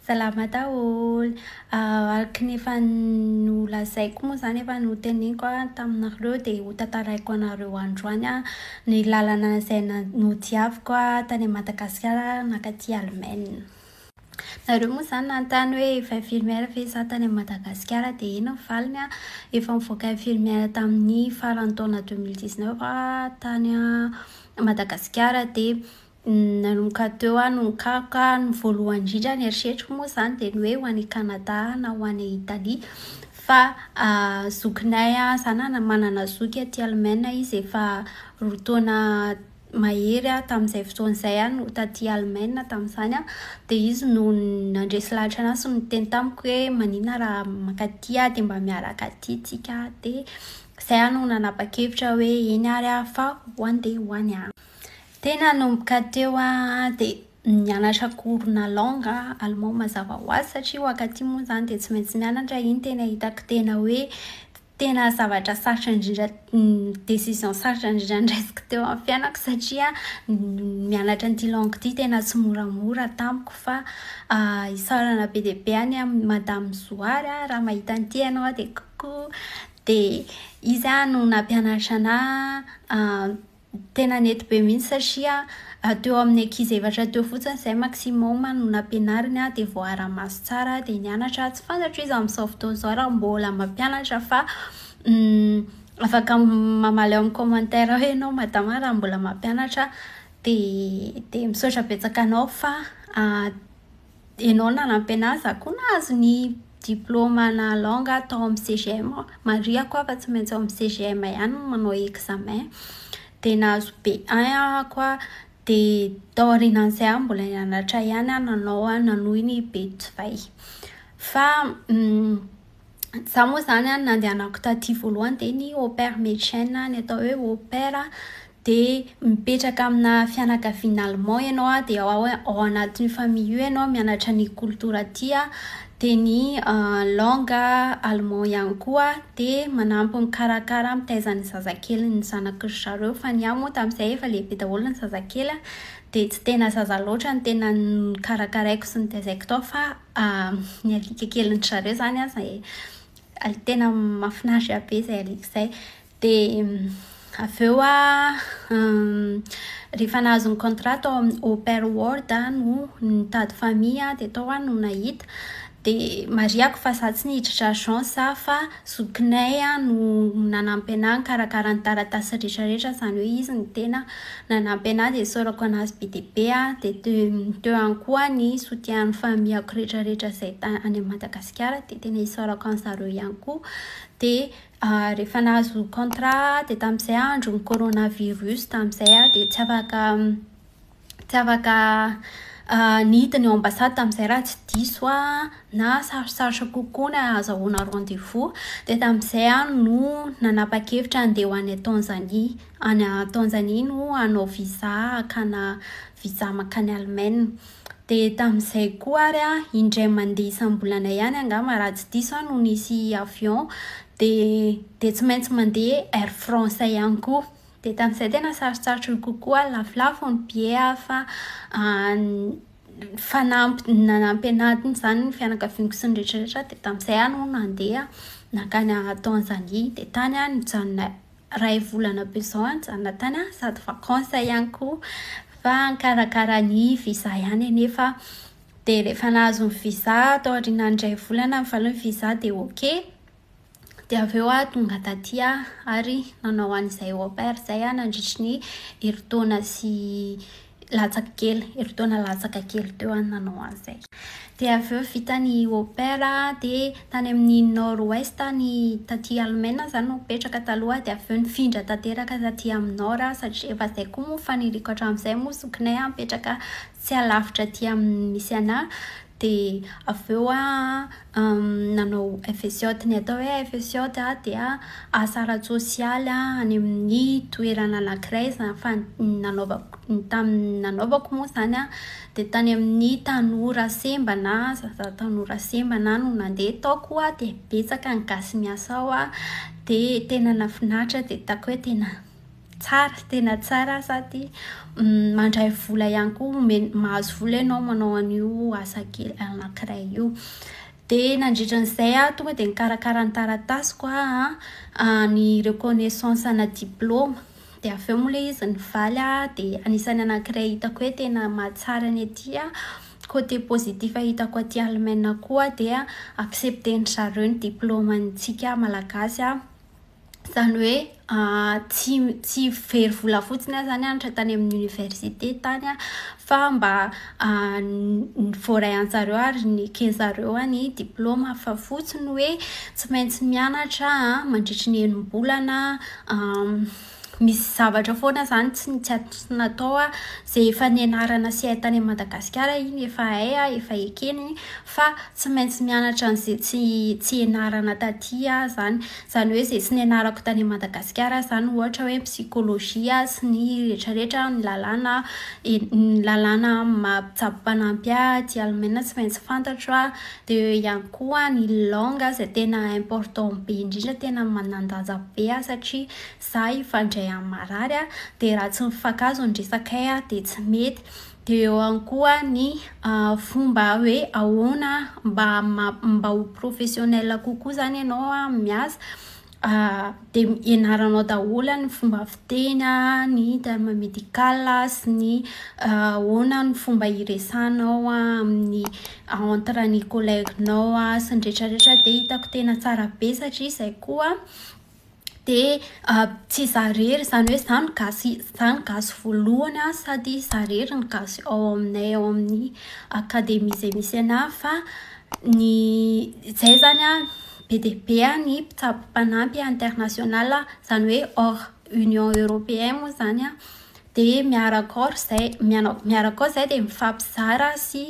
Salama daholo. Araka ny efa nolazaiko moa izany, efa noteneniko taminareo dia hotantaraiko anareo androany ny lalana izay nodiaviko tany Madagasikara mankaty Allemagne. Nareo moa izany nanontany hoe efa infirmière ve za tany Madagasikara dia eny ny valiny an, efa nivoaka infirmière tamin'ny faran'ny taona deux mille dix neuf aho tany Madagasikara dia Nanomboka teo aho no nikaroka, ny voalohany indrindra ny eritreriko moa izany dia ny hoe ho any Canada na ho any Italie fa zokinay izaho na manana zoky aty Allemagne izy efa roa taona mahery aho tamin'izay fotoana izay aho no taty Allemagne tamin'izany an, dia izy no nandresy lahatra anahy sy niteny tamiko hoe maninona raha mankaty aho dia mba miaraka aty isika dia izay aho no nanapa-kevitra hoe eny ary aho fa ho any dia ho any aho. Tena nanomboka teo an, dia nianatra cours na langue allemand mazava ho azy satria ho akaty moa izany dia tsy maintsy mianatra, iny tena hitako tena hoe tena zavatra sarotra indrindra décision sarotra indrindra noraisiko teo amin'ny fiainako satria ny mianatra an'ity langue ity tena tsy moramora tamiko fa isaorana be dia be any amin'i madame zoary an, raha mahita an'ity ianao dia coucou dia izy no nampianatra anà Tena nety be mihitsy satria teo amin'ny ankizy efatra teo fotsiny izay maximum no nampianariny aho dia voaara-maso tsara aho dia nianatra aho. Tsy fantatro izy amin'izao fotoana izao raha mbola mampianatra fa afaka mamaly ao amin'ny commentaire ao ianao Madama raha mbola mampianatra dia dia misaotra betsaka anao fa Ianao nanampy an'ahy, izaho koa nahazo ny diplaoma-na langue aho tao amin'ny CGM. Marihako aho fa tsy maintsy ao amin'ny CGM ihany no manao examen. Dia nahazo B1 aho koa. Dia tao aorianan'izay aho mbola nianatra ihany aho nanao, nanohy ny B2. Fa Izaho moa izany an, nandehanako taty voalohany dia ny au pair médecin, ny atao hoe au pair dia mipetraka amina fianakaviana allemand ianao an, dia ao ao anatin'io famille io ianao mianatra ny culture aty an, dia ny langue allemand ihany koa dia manampy mikarakara mitaiza ny zazakely ny zanaky ry zareo fa ny ahy moa tamin'izay efa lehibe daholo ny zazakely an, dia tsy tena zaza loatra ny tena nokarakaraiko sy notaizaiko tao fa Ny alika kelin'dry zareo izany an, izay alika tena mahafinaritra be izay alika izay. Dia avy eo an, rehefa nahazo ny contrat tao amin'ny Open World aho no nitady famille dia tao aho no nahita. Dia marihako fa izaho tsy niditra agence aho fa Zokinay no nanampy anah nikarakara ny taratasy rehetra rehetra izany hoe izy no tena nanampy anah dia isaorako anazy be dia be aho dia teo ihany koa ny soutien ny familiako rehetra rehetra izay tany any Madagasikara dia tena isaorako an-dry zareo ihany koa dia rehefa nahazo contrat aho dia tamin'izay andron'ny corona virus tamin'izay aho dia tsy afaka Tsy afaka niditra ny ao ambassade tamin'izay raha tsy diso aho na sarotsarotra kokoa ny ahazahoana rendez-vous. Dia tamin'izay aho no nanapa-kevitra handeha ho any Tanzanie. Any Tanzanie no hanao visa hakàna visa mankany Allemagne. Dia tamin'izay koa ary an, indray mandeha isam-bolana ihany angamba raha tsy diso aho no nisy avion dia tsy maintsy mandeha Air France ihany koa. Dia tamin'izay tena sarotsarotro ny kokoa lafolafo ny billets aho fa fanampiny nanampy an'ahy izany ny fianakaviako sy ny rehetrarehetra dia tamin'izay aho no nandeha nankany Tanzanie. Dia tany aho nijanona iray volana be izao aho nijanona tany an, sady vacance ihany koa fa nikarakara ny visa ihany anefa aho. Dia rehefa nahazo ny visa tao aorianan'ny iray volana ny valian'ny visa dia ok. Dia avy eo aho tonga taty ary nanao an'izay au pair izay aho nandritry ny herintaona sy latsaka kely, herintaona latsaka kely teo aho no nanao an'izay. Dia avy eo vita ny au pair dia tany amin'ny Nord Ouest aho ny taty Alemaina aho izany no nipetraka taloha dia avy eo nifindra tanteraka taty amin'ny Nord aho satria efa izay koa moa no faniriako hatramin'izay moa zokinay aho mipetraka tsy alavitra aty amin'ny misy anà Dia avy eo an, nanao FSJOT. Ny atao hoe FSJOT dia asa ara-tsosialy any amin'ny toerana anankiray izany fa ny nanaovako ny tamin'ny nanaovako moa izany an, dia tany amin'ny tanora sembana, zaza tanora sembana no nandeha. Tao koa dia betsaka ny gasy miasa ao dia tena nahafinaritra dia hitako hoe tena Tsara, tena tsara sady mandray vola ihany koa, omena, mahazo vola ianao manao an'io asa kely anankiray io. Dia nandritra an'izay aho tonga dia nikarakara ny taratasiko an, ny reconnaissance ana diploma. Dia avy eo moa ilay izy nivaly aho dia anisan'ny anankiray hitako hoe tena mahatsara ny aty an, côté positif hitako aty Allemagne koa dia accepter-ndry zareo ny diplômantsika malagasy an. Izany hoe tsy tsy very vola fotsiny aho izany hanitra tany amin'ny oniversite tany aho fa mba voaray an-tsareo ary neken'izareo ny diplaoma fa fotsiny hoe tsy maintsy mianatra mandritry ny enim-bolana misy zavatra foana izany tsy natao aho izay efa nianarana sy hay tany Madagasikara iny efa hay aho efa ekena iny fa tsy maintsy mianatra an'izay tsy ianarana taty aho izany Izany hoe izay tsy nianarako tany Madagasikara izany ohatra hoe psychologie sy ny rehetra rehetra ny lalàna ny lalàna mampitsabo mpanampy ahy aty Alemaina tsy maintsy fantatro an, dia eo ihany koa ny langue izay tena important be indrindra tena manan-danja be aho satria izaho hifandray amin'ny marary an, dia raha tsy mifankahazo ny resakay an dia tsy mety. Dia eo ihany koa ny fomba hoe ahoana mba mba ho professionnel kokoa izany ianao amin'ny miasa. Dia ianaranao daholo ny fomba fiteny, ny terme médical sy ny ahoana ny fomba hiresahanao amin'ny entre ny collègue-nao sy ny rehetra rehetra. Dia hitako tena tsara be satria izay koa dia tsy izaho irery, izany hoe izaho no gasy, izaho no gasy voalohany sady izaho irery no gasy ao aminay ao amin'ny akademia izay misy anà fa ny izay izany an, be dia be ny mpitsabo mpanampy international, izany hoe hors Union Européen moa izany an. Dia miaraka ao ry zay mianao miaraka ao zay dia mifampizara sy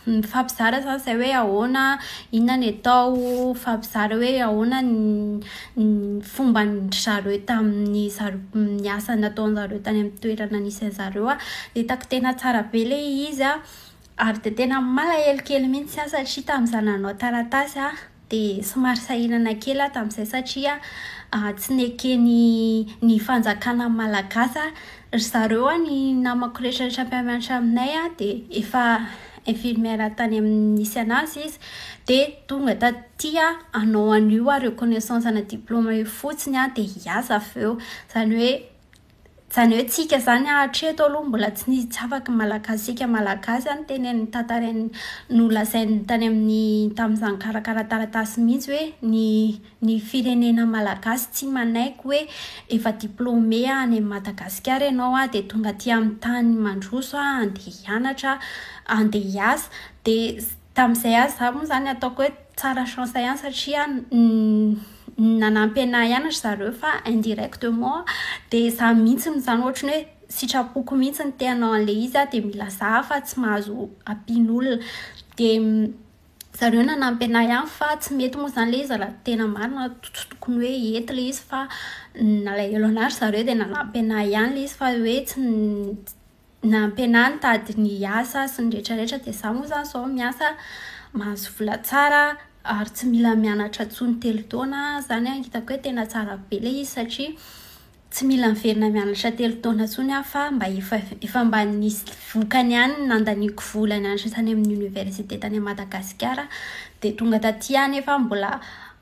mifampizara izany izay hoe ahoana inona ny atao mifampizara hoe ahoana ny ny fomban-dry zareo tamin'ny zar- ny asa nataon-dry zareo tany amin'ny toerana nisy an'zareo aho. Hitako tena tsara be ilay izy an. Ary dia tena malahelo kely mihitsy aho satria tamin'izaho nanao taratasy aho dia somary sahirana kely aho tamin'izay satria tsy neken'ny ny fanjakana malagasy aho. Ry zareo aho ny namako rehetrarehetra mpiara-mianatra aminay dia efa infirmière tany amin'ny nisy anazy izy dia tonga taty aho hanao an'io aho reconnaissance ana diploma io fotsiny aho dia hiasa avy eo. Izany hoe Zany hoe tsika zany a hatreto aloha mbola tsy nisy tsy afaka ny malagasika malagasy a niteny ny tantarainy nolazainy tany amin'ny tamin'izany karakara taratasy mihitsy hoe ny ny firenena malagasy tsy manaiky hoe efa diplôme any amin'i madagasikara ianao a dia tonga aty amin'ny tany mandroso a andeha hianatra a andeha hiasa dia tamin'izay aza za moa zany ataoko hoe Tsara chance ihany satria nanampy anah ihany ry zareo fa indirectement dia za mihitsy no zany ohatry ny hoe sitrapoko mihitsy ny te hanao an'ilay izy aho dia mila za fa tsy mahazo ampian'olona dia zareo nanampy anah ihany fa tsy mety moa zany ilay izy raha tena marina tsy tokony hoe hety ilay izy fa nalahelo anah ry zareo dia nanampy anah ihany ilay izy fa hoe tsy nampianany nitady ny asa sy ny rehetra rehetra dia za moa zany zao miasa mahazo vola tsara ary tsy mila mianatra intsony telo taona zany an hitako hoe tena tsara be ilay izy satria tsy mila miverina mianatra telo taona intsony aho fa mba efa efa mba nisy vokany ihany ny nandaniako vola nianatra tany amin'ny oniversite tany Madagasikara dia tonga taty anefa mbola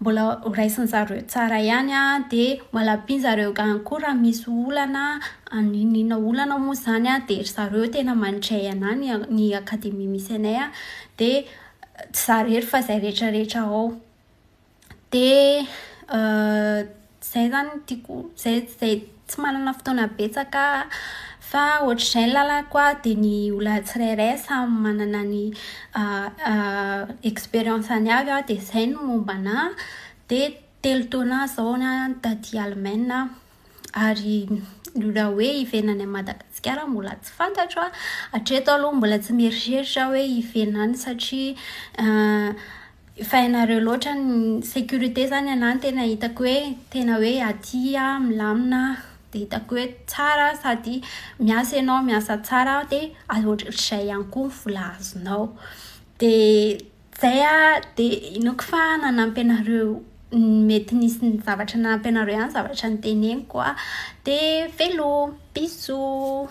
Mbola ho raisin'zareo tsara ihany a! De malapin'zareo gany koa raha misy olana a! na inona na inona olana moa zany a! de ry zareo tena mandray anah ny akademia misy anay a! de tsy za rery fa zay retraretra ao de Izay izany no tiako, izay izay tsy manana fotoana betsaka aho fa ohatr'izay ny lalako an, dia ny olona tsirairay samy manana ny expérience-ny avy an, dia izay ny momba ana. Dia telo taona izao ny ahy taty Allemagne an, ary ny raha hoe hiverina any Madagasikara mbola tsy fantatro an. Hatreto aloha mbola tsy mieritreritra aho hoe hiverina any satria Efa hainareo loatra ny sécurité izany anah no tena hitako hoe tena hoe aty aho milamina dia hitako hoe tsara sady miasa ianao miasa tsara dia ohatr'izay ihany koa ny vola azonao. Dia izay aho dia inoako fa nanampy anareo mety nisy zavatra nanampy anareo ihany ny zavatra noteneniko. Dia veloma! Bisous!